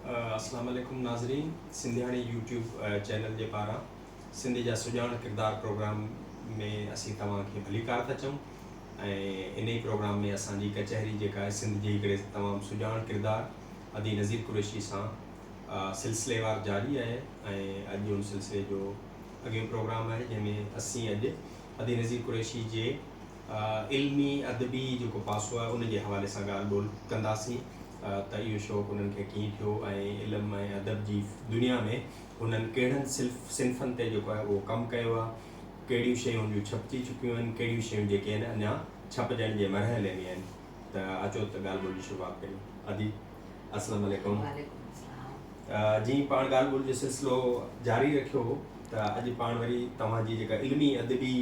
اسلام عليڪم ناظرين سنڌياڻي يوٽيوب چينل جي پاران سنڌ جا سڄاڻ ڪردار پروگرام ۾ اسين توهان کي ڀليڪار ٿا چئون ۽ انهي پروگرام ۾ اسان جي ڪچهري جيڪا آهي سنڌ جي هڪڙي تمام سڄاڻ ڪردار ادي نذير قريشي سان سلسليوار جاري آهي ۽ اڄ ان سلسلي جو اڳيون پروگرام آهي جنهن ۾ اسين اڄ ادي نذير قريشي جي علمي ادبي جيڪو پاسو آهي ان جي حوالي سان ڳالهه ٻولهه ڪنداسين ته اهو شوق انهن کي ڪيئن ٿيو ۽ علم ۽ ادب جي دنيا ۾ هنن ڪهڙن صنفن تي جيڪو آهي اهو ڪم ڪيو آهي ڪهڙيون شيون هن جون ڇپجي چڪيون آهن ڪهڙيون شيون جيڪي آهن اڃا ڇپجڻ جي مرحلي ۾ آهن ته اچو ته ڳالهه ٻولهه جي شروعات ڪريون ادي اسلام عليڪم وعليڪم اسلام جي پاڻ ڳالهه ٻولهه جو سلسلو جاري رکيو ته اڄ پاڻ وري توهان جي جيڪا علمي ادبي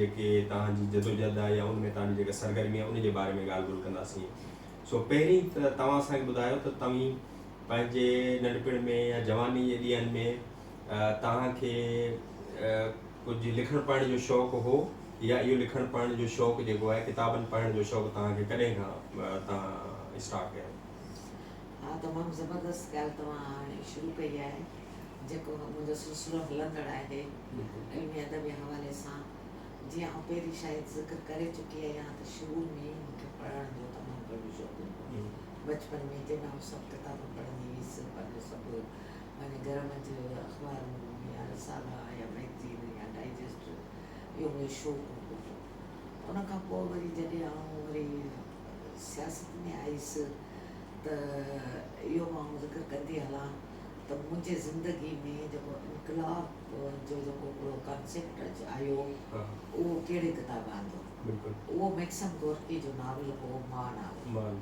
جيڪي توهان جي جدوجهد آهي يا ان ۾ توهان جي جيڪا سرگرمي آهي ان جي باري ۾ ڳالهه ٻولهه ڪنداسين سو پهرين ته توهان اسان کي ٻڌايو ته توهين پنهنجي ننڍپڻ ۾ يا جواني جي ڏينهن ۾ توهان کي ڪجهه لکڻ پڙهڻ جو شوق هو يا اهو لکڻ پڙهڻ جو شوق جيڪو آهي ڪتابن پڙهڻ جو شوق توهان کي ڪڏهن کان توهان اسٽارٽ ڪيو؟ ها تمام زبردست ڳالهه توهان هاڻي شروع ڪئي آهي جيڪو منهنجو سلسلو هلندڙ آهي علمي ادبي حوالي سان جيئن آئون پهرين شايد ذڪر ڪري چڪي آهيان ته شروع ۾ ئي مون کي پڙهڻ جو تمام گهڻو شوق هوندو هو بچپن ۾ جڏهن آئون سڀ ڪتاب پڙهندي هيس پر جو سڀ معني گهر منجھ اخبار ملن يا رسالا يا ميگزين يا ڊائجسٽ اهو منهنجو شوق هوندو هو ان کان پوء وري جڏهن آئون وري سياست ۾ آئيس ته اهو مان آئون ذڪر ڪندي هلان ته منهنجي زندگي ۾ جيڪو انقلاب جو جيڪو هڪڙو ڪانسيپٽ آيو اهو ڪهڙي ڪتاب آندو اهو ميڪسم گورڪي جو ناول هو مان ناول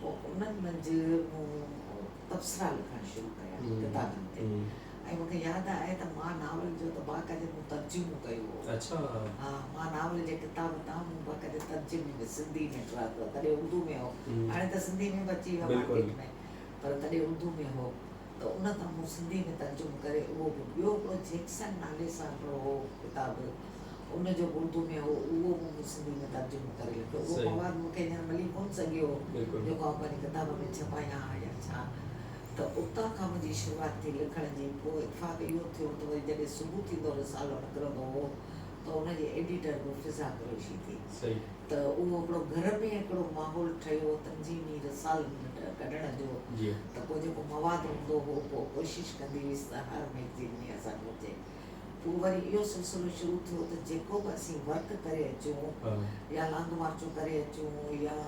پوء انهن منجهه مون تبصرا لکڻ شروع ڪيا ڪتابن تي ۽ مون کي ياد آهي ته مان ناول جو ته باقاعدي مون ترجمو ڪيو هو. ها مان ناول جي ڪتاب تان مون باقاعدي ترجمي ۾ سنڌي ۾ ٽراٿو تڏهن اردو ۾ هو هاڻي ته سنڌي ۾ به اچي ويو آهي مارڪيٽ ۾ پر تڏهن اردو ۾ هو. ته ان کان مون سنڌي ۾ ترجمو ڪري اهو به ٻيو هڪڙو جيڪسن نالي سان هڪڙو هو ڪتاب ان جو به اردو ۾ هو اهو به مون سنڌي ۾ ترجمو ڪري لکيو اهو صحيح مواد مون کي هينئر ملي ڪونه سگهيو هو بلڪل جيڪو آئون پنهنجي ڪتاب ۾ ڇپايان ها يا ڇا ته اتان کان منهنجي شروعات ٿي لکڻ جي پوء اتفاق اهو ٿيو ته وري جڏهن صبح ٿيندو رسالو نڪرندو هو ته ان جي ايڊيٽر به فضا قريشي ٿي صحيح. ته اهو هڪڙو گهر ۾ هڪڙو ماحول ٺهيو تنظيمي رسالن ڪڍڻ جو ته پوء جيڪو مواد هوندو هو پوء ڪوشش ڪندي هيس ته هر ميگزين ۾ اسان جو اچي پوء وري اهو سلسلو شروع ٿيو ته جيڪو به اسين ورڪ ڪري اچون يا لانگ مارچون ڪري اچون يا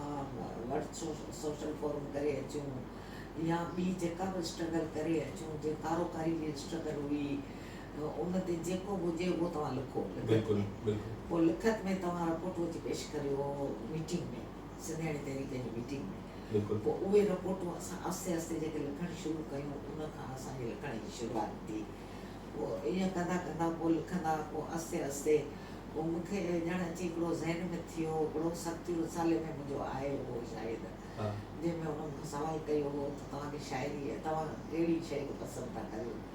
ورڊ سوشل فورم ڪري اچون يا ٻي جيڪا به اسٽرگل ڪري اچون جي ڪارو ڪاري جي اسٽرگل هئي ان تي جيڪو به هجي اهو توهان لکو لکت ۾ پوء لکت ۾ توهان رپورٽون اچي پيش ڪريو ميٽنگ ۾ سنڌياڻي تحريڪ جي ميٽنگ ۾ پوء اهي رپورٽون اسان آهستي آهستي جيڪي لکڻ شروع ڪيون ان کان اسان جي لکڻ جي شروعات ٿي پوء ائين ڪندا ڪندا پوء لکندا پوء آهستي آهستي پوء مون کي ڄڻ اچي هڪڙو ذهن ۾ ٿيو هڪڙو سختيون رسالي ۾ منهنجو آيو هو شايد جنهن ۾ انهن مون کان سوال ڪيو هو ته توهان کي شاعري توهان ڪهڙي شيء کي پسند ٿا ڪريو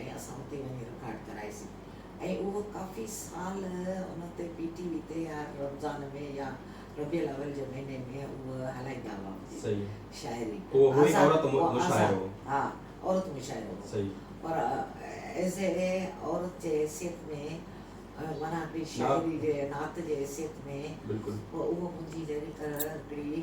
۽ اسان اتي وڃي رڪارڊ ڪرائيسين ۽ اهو ڪافي سال ان تي پي ٽي وي تي هر رمضان ۾ يا ربيع الاول جي مهيني ۾ اهو هلائيندا هئا مون جي شاعري آزاد ها عورت مشاعرو هو پر ايز اي عورت جي حيثيت ۾ معنيٰ ڀي شاعري جي نعت جي حيثيت ۾ اهو مون جي ليريڪل هڪڙي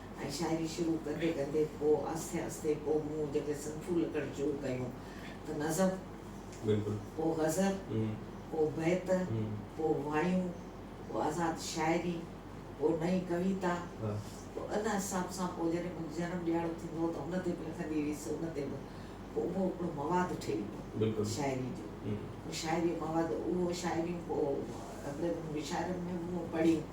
۽ شاعري شروع ڪندي ڪندي پوء آھستي آھستي پوء مون جڏھن صنفون لکڻ شروع ڪيون ته نظم، پوء غزل، پوء بيت، پوء وايون، پوء آزاد شاعري، پوء نئين ڪويتا، پوء ان حساب سان پوء جڏھن منھنجو جنم ڏھاڙو ٿيندو ھو ته ان تي به لکندي ھيس ان تي به پوء اھو ھڪڙو مواد ٺھي ويو شاعري جو، پوء شاعري جو مواد اھو شاعريون پوء انگريزن جي شاعرن ۾ به مون پڙھيون.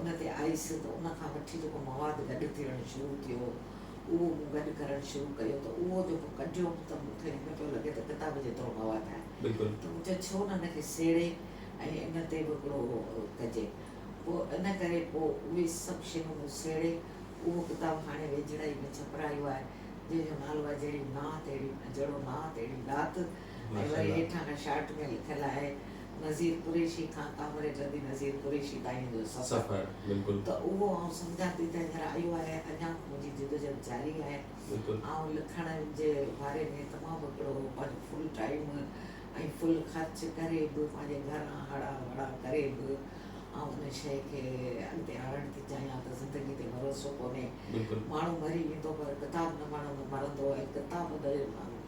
ان تي آيس ته ان کان وٺي جيڪو مواد گڏ ٿيڻ شروع ٿيو اهو مون گڏ ڪرڻ شروع ڪيو ته اهو جيڪو ڪڍيو هوم ته مون کي هيئن پيو لڳي ته ڪتاب جيترو مواد آهي ته مون چيو ڇو نه ان کي سهيڙي ۽ ان تي به هڪڙو اهو ڪجي پوء ان ڪري پوء اهي سڀ شيون مون سهيڙي اهو ڪتاب هاڻي ويجهڙائي ۾ ڇپرايو آهي جنهن جو نالو آهي جهڙي نانء تهڙي جهڙو نانء تهڙي ڏات. ۽ وري هيٺان کان شارٽ ۾ لکيل آهي نظير قريشي کان ڪامريڊ ردي نظير قريشي تائين جو سفر ته اهو آئون سمجهان ٿي ته هينئر آيو آهي اڃا به منهنجي جدوجهد جاري آهي آئون لکڻ جي باري ۾ تمام هڪڙو پنهنجو فل ٽائيم ۽ فل خرچ ڪري به پنهنجي گهران هڙا وڙا ڪري به آئون ان شيء کي اڳتي آڻڻ ٿي چاهيان ته زندگي تي ڀروسو ڪونهي ماڻهو مري ويندو پر ڪتاب نه مرندو ۽ ڪتاب نه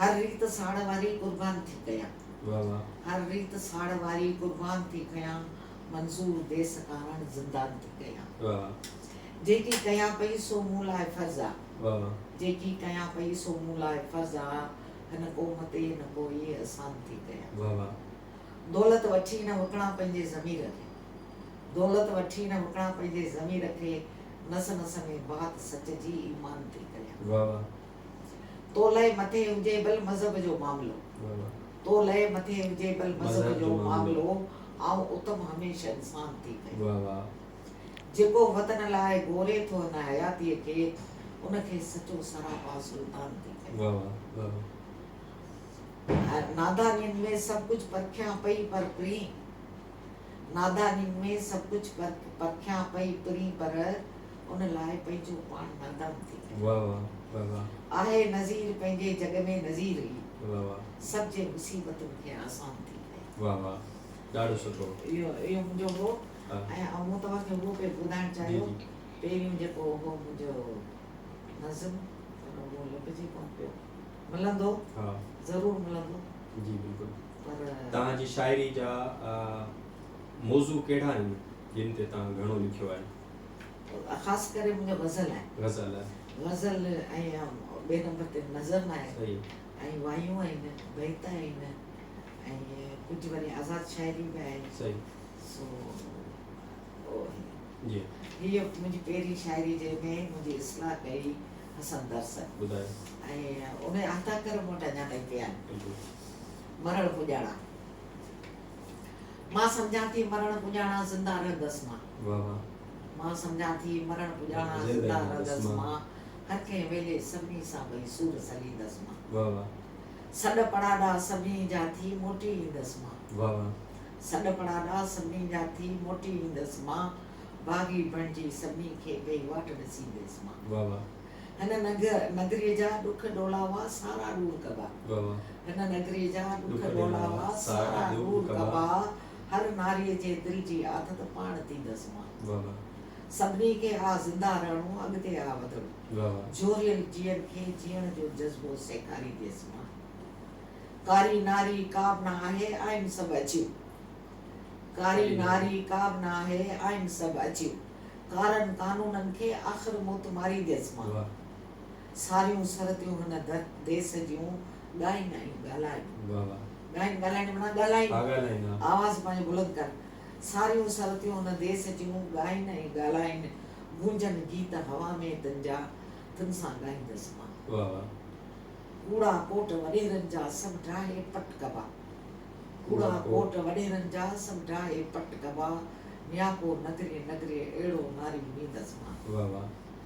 هر ريت ساڙ واري قربان ٿي ڪيان. هر ريت ساڙ واري قربان ٿي ڪيان منظور ديس ڪارڻ زندان ٿي ڪيان. جيڪي ڪيان پئي سو مون لاء فرض آ. جيڪي ڪيان پئي سو مون لاء فرض آ هن قوم تي نه ڪو ئي احسان ٿي ڪيان. دولت وٺي نه وڪڻان پنهنجي ضمير کي. دولت وٺي نه وڪڻان پنهنجي ضمير کي نس نس ۾ بات سچ جي ايمان ٿي ڪيان. تو لئه مٿي هجي بل مذهب جو معاملو تو لئه مٿي هجي بل مذهب جو معاملو آئون اتم هميشه انسان ٿي پئي جيڪو وطن لاء گهوري ٿو هن حياتيء کي ان کي سچو سراپا سلطان ٿي پئي نادانين ۾ سڀ ڪجهه پرکيان پئي پر پرين نادانين ۾ سڀ ڪجهه پرکيان پئي پرين پر ان لاء پنهنجو پاڻ نادان ٿي ڪڍيو آهي نذير پنهنجي جڳ ۾ نذير ئي سڀ جي مصيبتن کي آسان ٿي ڪيو اهو منهنجو هو ۽ مون توهان کي اهو پئي ٻڌائڻ چاهيو پهريون جيڪو هو منهنجو نظم پر اهو لڀجي ڪونه پيو ملندو ضرور ملندو جي بلڪل پر توهان جي شاعري جا موضوع ڪهڙا آهن جن تي توهان گهڻو لکيو آهي خاص ڪري منهنجا غزل آهن غزل غزل ۽ ٻئي نمبر تي نظم آهي صحيح ۽ وايون آهن بيت آهن ۽ ڪجهه وري آزاد شاعري به آهي صحيح سو جي هي منهنجي پهرين شاعري جنهن ۾ منهنجي اصلاح ڪئي حسن درسن ٻڌايو ۽ ان عطا ڪر مون وٽ اڃا تائين پيا آهن مرڻ پڄاڻا مان سمجهان ٿي مرڻ پڄاڻا زنده رهندس مان واھ واھ. مان سمجهان ٿي مرڻ پڄاڻان زنده رهندس مان هر ڪنهن ويلي سڀني سان ٻئي سور سليندس مان واھ واھ. سڏ پڙاڏا سڀني جا ٿي موٽي ايندس مان واھ واھ. سڏ پڙاڏا سڀني جا ٿي موٽي ايندس مان باغي بڻجي سڀني کي ٻئي واٽ ڏسينديس مان واھ واھ. هن نگريء جا ڏک ڏولاوا سارا ڏور ڪبا واھ واھ. هن نگريء جا ڏک ڏولاوا سارا ڏور ڪبا. هر ناريء جي دل جي آٿ ته پاڻ ٿيندس مان سڀني کي آ زنده رهڻو اڳتي آ وڌڻو جهوريل جيئن کي جيئڻ جو جذبو سيکارينديس مان ڪاري ناري ڪابه نه آهي آهن سڀ اڇيون ڪاري ناري ڪابه نه آهي آهن سڀ اڇيون ڪارن قانونن کي آخر موت مارينديس مان ساريون سرتيون هن در ديس جون ڳائين ڳائين ڳالهائين. ڳائين ڳالهائين معنيٰ ڳالهائين، آواز پنهنجو بلند ڪن. ساريون سرتيون هن ديس جون ڳائين ۽ ڳالهائين، گونجن گيت هوا ۾ تن جا، تن سان ڳائيندس مان. ڪوڙا ڪوٽ وڏيرن جا سڀ ڊاهي پٽ ڪبا. ڪوڙا ڪوٽ وڏيرن جا سڀ ڊاهي پٽ ڪبا، نياپو نگري نگري اهڙو ناري ڏيندس مان.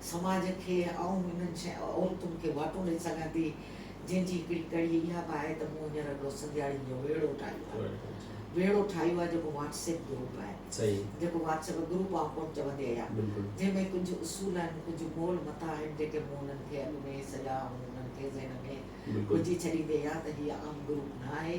سماج کي آئون انهن عورتن کي واٽون ڏئي سگهان ٿي، جنهن جي هڪڙي ڪڙي اها به آهي ته مون هينئر هڪڙو سنڌياڻين جو ويڙهو ٺاهيو آهي. ويڙهو ٺاهيو آهي جيڪو واٽس ايپ گروپ آهي. جيڪو واٽس ايپ گروپ آئون ڪونه چوندي آهيان. جنهن ۾ ڪجهه اصول آهن، ڪجهه مول متا آهن جيڪي مون انهن کي اڳ ۾ سڄا آئون انهن کي ذهن ۾ وجهي ڇڏيندي آهيان ته هي عام گروپ نه آهي.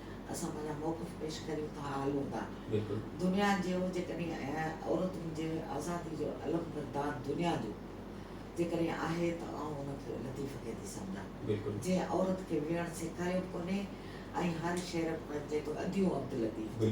اسان پنهنجا موقف پيش ڪريون ٿا هلون ٿا دنيا جيون جيڪڏهن عورتن جي آزادي جو علم بردار دنيا جو جيڪڏهن آهي ته آئون ان کي لطيف کي ٿي سمجهان جنهن عورت کي ويهڻ سيکاريو ڪونهي ۽ هر شعر ۾ چئي ٿو اديون عبداللطيف جي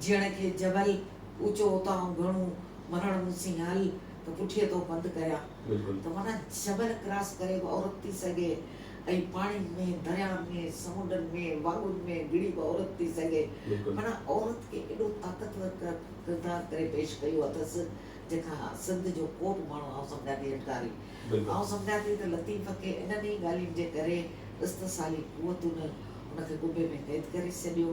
جيئڻ کي جبل، اوچو اتاهون گهڻو، مرڻ مون سين هل، ته پٺيء تون پنڌ ڪريان. ته معنيٰ جبل ڪراس ڪري به عورت ٿي سگهي ۽ پاڻين ۾، دريائن ۾، سمنڊن ۾، واڳن ۾ گهڙي به عورت ٿي سگهي. معنيٰ عورت کي ايڏو طاقتور ڪردار ڪري پيش ڪيو اٿس، جنهن کان سنڌ جو ڪو به ماڻهو آئون سمجهان ٿي انڪاري. آئون سمجهان ٿي ته لطيف کي انهن ئي ڳالهين جي ڪري استحصالي قوتن ان کي ڪٻي ۾ قيد ڪري ڇڏيو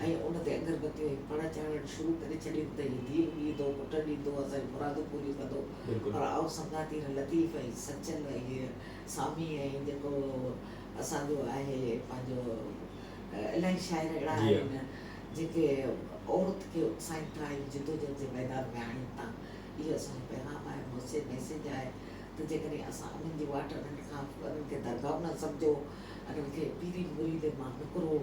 ۽ ان تي اگر بتيون ۽ پڙ چاڙهڻ شروع ڪري ڇڏين ته هي ڌيء به ڏيندو، پٽ ڏيندو، اسان جون مرادون پوريون ڪندو. پر آئون سمجهان ٿي هن لطيف ۽ سچل ۽ هيء سامي ۽ جيڪو اسان جو آهي پنهنجو الائي شاعر اهڙا آهن جيڪي عورت کي اڪسائين ٿا ۽ جدوجهد جي ميدان ۾ آڻين ٿا. اهو اسان جو پيغام آهي، موثر ميسيج آهي ته جيڪڏهن اسان انهن جي واٽ انهن کان انهن کي درگاهون نه سمجهو، انهن کي پيري مريدن مان نڪرو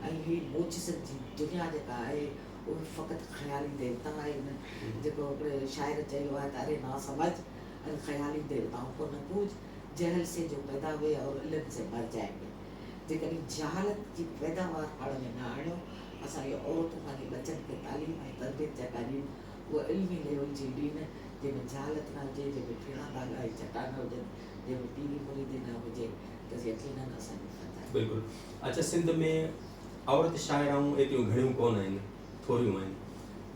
۽ هي موجزن جي دنيا جيڪا آهي اهي فقط خيالي ديوتا آهن، جيڪو هڪڙي شاعر چيو آهي ته اري نا سمجھ ان خيالي ديوتائون ڪو نه پوج، جهل سي جو پيدا هئي اور علم سي مر جائين گي. جيڪڏهن جهالت جي پيداوار پاڻ ۾ نه آڻيو، اسان جي عورتون پنهنجي ٻچن کي تعليم ۽ تربيت جا ڪاريون اهو علمي ليول جي ڏينهن جنهن ۾ جهالت نه هجي، جنهن ۾ ڦيڻا ڀاڳا ۽ چٽا نه هجن، جنهن ۾ پيري مريدي نه هجي ته يقينن اسان جي خطا آهي. بلڪل اچا سنڌ ۾ عورت شاعرائون ايتريون گهڻيون ڪونه آهن ٿوريون آهن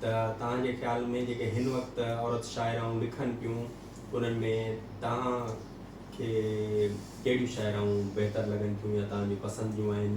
ته توهان جي خيال ۾ جيڪي هن وقت عورت شاعرائون لکن پيون انهن ۾ توهان کي ڪهڙيون شاعرائون بهتر لڳن ٿيون يا توهان جون پسند جون آهن.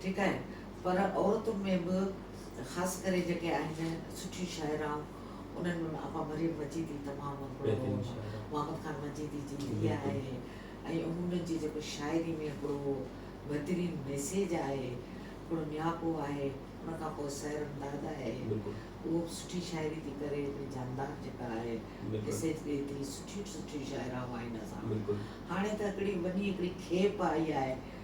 ٺيڪ آهي پر عورتن ۾ به خاص ڪري جيڪي آهن سٺيون شاعرائون انهن ۾ آپا مريم مجيدي تمام هڪڙو محمد خان مجيدي جي ڌيء آهي ۽ انهن جي جيڪو شاعري ۾ هڪڙو بهترين ميسيج آهي هڪڙو نياپو آهي ان کان پوء سحر امداد آهي اهو به سٺي شاعري ٿي ڪري هڪڙي جاندار جيڪا آهي ميسيج ڏي ٿي سٺيون سٺيون شاعرائون آهن اسان وٽ هاڻي ته هڪڙي وڏي هڪڙي کيپ آئي آهي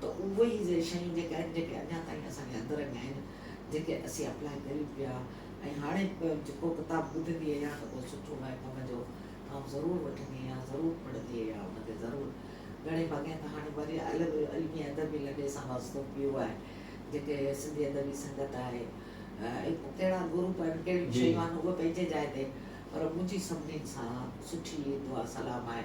ته اهي ئي سي شيون جيڪي آهن جيڪي اڃا تائين اسان جي اندر ۾ آهن جيڪي اسين اپلائي ڪريون پيا ۽ هاڻي به جيڪو ڪتاب ٻڌندي اهيان ته ڪو سٺو آهي ڪم جو ته آئون ضرور وٺندي اهيان ضرور پڙهندي اهيان ان کي ضرور گهڻي ڀاڱي ته هاڻي وري الڳ علمي ادبي لڏي سان واسطو پيو آهي جيڪي سنڌي ادبي سنگت آهي اهي ڪهڙا گروپ آهن ڪهڙيون شيون آهن اهي پنهنجي جاء تي پر منهنجي سڀني سان سٺي دعا سلام آهي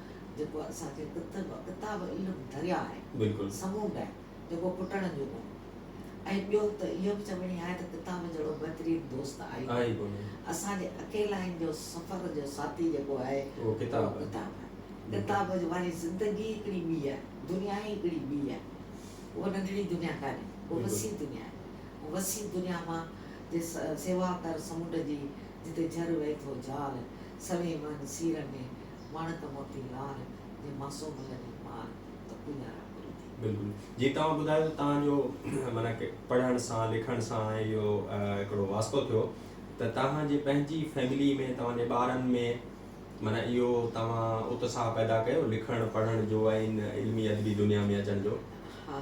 جيڪو اسان جي ڪتب ڪتاب علم درياء آهي، سمونڊ آهي، جيڪو پٽڻ جو ڪونهي. ۽ ٻيو ته اهو به چوڻي آهي ته ڪتاب جهڙو بهترين دوست آهي ئي ڪونهي. اسان جي اڪيلائين جو سفر جو ساٿي جيڪو آهي اهو ڪتاب آهي. ڪتاب واري زندگي ئي هڪڙي ٻي آهي، دنيا ئي هڪڙي ٻي آهي. اها ننڍڙي دنيا ڪانهي، اها وسيع دنيا آهي. ان وسيع دنيا مان جي سيوا ڪر سمونڊ جي، جتي جھر وهي ٿو جال، سوين وهن سير ۾ وڻ ته موٽي لار، جي معصوم لڳي مار، ته پيارا گل ٿي. بلڪل جي توهان ٻڌايو ته توهان جو معنيٰ پڙهڻ سان لکڻ سان ۽ اهو هڪڙو واسطو ٿيو ته توهان جي پنهنجي فيملي ۾ توهان جي ٻارن ۾ معنيٰ اهو توهان اتساهه پيدا ڪيو لکڻ پڙهڻ جو ۽ ان علمي ادبي دنيا ۾ اچڻ جو. ها.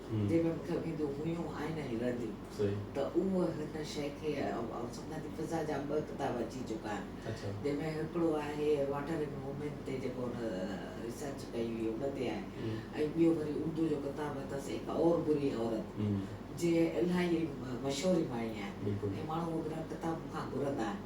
جيڪا مون کي اڳي جو هيون آهن ۽ رهنديون ته اهو هن شيء کي آئون سمجهان ٿي فضا جا ٻه ڪتاب اچي چڪا آهن جنهن ۾ هڪڙو آهي واٽر ان وومين تي جيڪو هن ريسرچ ڪئي هئي ان تي آهي ۽ ٻيو وري اردو جو ڪتاب اٿس ايڪ اور بري عورت جي الاهي مشهوري ماڻي آهي ۽ ماڻهو هو ڪتاب مون کان گهرندا آهن.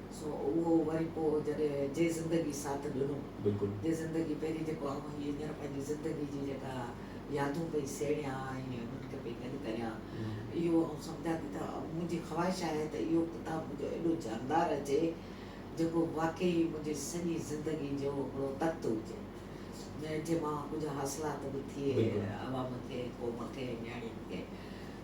سو اهو وري پوء جڏهن جي زندگي ساٿ ڏنو. بلڪل. جي زندگي پهرين جيڪو آئون هي هينئر پنهنجي زندگي جي جيڪا يادون پئي سهيڙيان ۽ انهن کي پئي گڏ ڪريان اهو آئون سمجهان ٿي ته منهنجي خواهش آهي ته اهو ڪتاب منهنجو ايڏو جاندار اچي جيڪو واقعي منهنجي سڄي زندگي جو هڪڙو تخت هجي جنهن مان ڪجهه حاصلات به ٿئي عوام کي قوم کي نياڻين کي.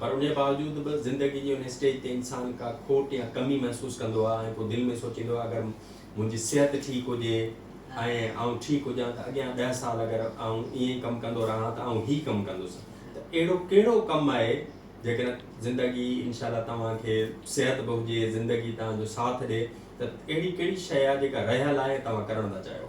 پر انهيء باوجود به زندگيء جي ان اسٽيج تي انسان ڪا کوٽ يا ڪمي محسوس ڪندو آهي ۽ پوء دل ۾ سوچيندو آهي اگر منهنجي صحت ٺيڪ هجي ۽ آئون ٺيڪ هجان ته اڳيان ڏهه سال اگر آئون ائين ئي ڪم ڪندو رهان ته آئون هي ڪم ڪندس ته اهڙو ڪهڙو ڪم آهي جيڪڏهن زندگي انشاء الله توهان کي صحت به هجي زندگي توهان جو ساٿ ڏي ته اهڙي ڪهڙي شيء آهي جيڪا رهيل آهي ۽ توهان ڪرڻ ٿا چاهيو.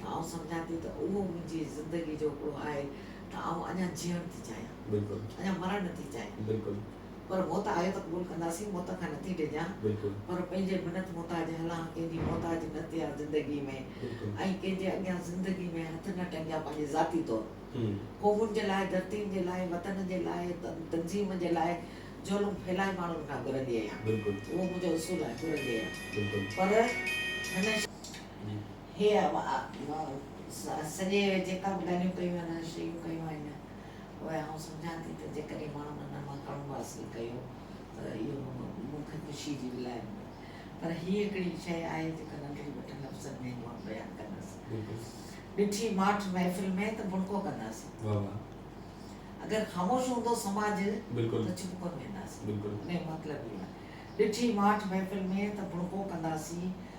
ته آئون سمجهان ٿي ته اهو منهنجي زندگي جو هڪڙو آهي ته آئون اڃا جيئڻ ٿي چاهيان اڃا مرڻ نه ٿي چاهيان پر موت آهي ته قبول ڪنداسين موت کان نٿي ڊڄان پر پنهنجي منت محتاج هلان ڪنهن جي محتاج نه ٿيان زندگي ۾ ۽ ڪنهن جي اڳيان زندگي ۾ هٿ نه ٽنگيان پنهنجي ذاتي طور قومن جي لاء ڌرتين جي لاء وطن جي لاء تنظيم جي لاء جهلون ڦهلائي ماڻهن کان گهرندي اهيان اهو منهنجو اصول آهي گهرندي اهيان پر هن هيء سڄي اهي جيڪا به ڳالهيون ڪيون آهن، اهي شيون ڪيون آهن، اهي آئون سمجهان ٿي ته جيڪڏهن ماڻهن انهن مان ڪڻو حاصل ڪيو ته اهو مون کي خوشيء جي ولائت هوندي. پر هيء هڪڙي شيء آهي جيڪا ننڍڙي وٽ لفظن ۾ هينئر بيان ڪندس. ڏٺي ماٺ محفل ۾ ته بڻڪو ڪنداسين. اگر خاموش هوندو سماج ته چپ ڪونه وينداسين. ان جو مطلب اهو آهي. ڏٺي ماٺ محفل ۾ ته بڻڪو ڪنداسين.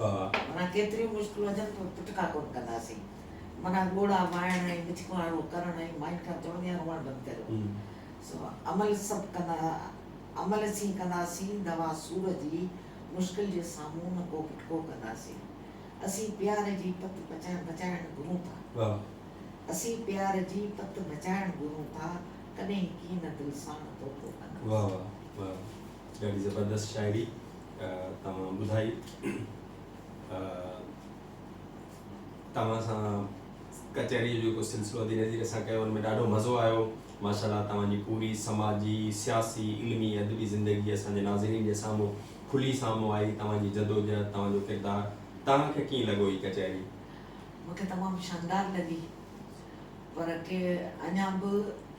ها. معنيٰ ڪيتريون مشڪلون اچن پر پٽڪا ڪونه ڪنداسين. معنيٰ ڳوڙها مائڻ ۽ مڇڪاڻو ڪرڻ ۽ مائين کان چوڻ يا روئڻ بند ڪريو. سو عمل سڀ ڪندا عمل سين ڪنداسين دوا سور جي مشڪل جي سامهون نه ڪو پٽڪو ڪنداسين. اسين پيار جي پت پچائڻ بچائڻ گهرون ٿا. اسين پيار جي پت بچائڻ گهرون ٿا ڪڏهن ڪين دل ساڻ دوکو ڪندا. ڏاڍي زبردست شاعري توهان ٻڌائي توهان سان ڪچهري جو ڪو سلسلو ڌيري ڌيري اسان ڪيو ان ۾ ڏاڍو مزو آيو ماشاءالله توهان جي پوري سماجي سياسي علمي ادبي زندگي اسان جي ناظرين جي سامهون کلي سامهون آئي توهان جي جدوجهد توهان جو ڪردار توهان کي ڪيئن لڳو هي ڪچهري مونکي تمام شاندار لڳي پر ڪي اڃا به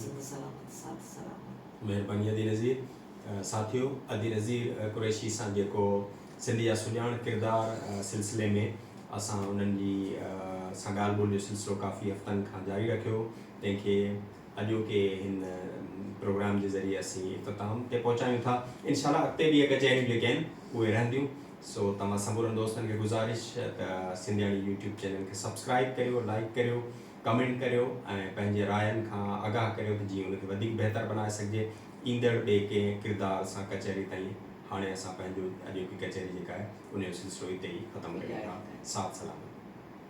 زنده سلامت ساٿ سلام. مهرباني ادي نظير ساٿيو ادي نظير قريشي سان جيڪو سنڌ جا سڄاڻ ڪردار سلسلي ۾ اسان انهن جي سان ڳالهه ٻولهه جو سلسلو ڪافي هفتن کان جاري رکيو هو تنهن کي اڄوڪي هن پروگرام جي ذريعي اسين اختتام تي پهچايون ٿا انشاء الله اڳتي به اهي ڪچهريون جيڪي آهن اهي رهنديون سو توهان سمورن دوستن کي گذارش ته سنڌياڻي يوٽيوب چينل کي سبسڪرائب ڪريو لائڪ ڪريو ڪمينٽ ڪريو ۽ پنهنجي راين کان آگاهه ڪريو ته جيئن ان کي وڌيڪ بهتر بنائي سگهجي ايندڙ ٻي ڪنهن ڪردار سان ڪچهري تائين هاڻي اسان پنهنجو اڄوڪي ڪچهري جيڪا آهي ان جو سلسلو اتي ئي ختم ڪريون ٿا ساٿ سلامت.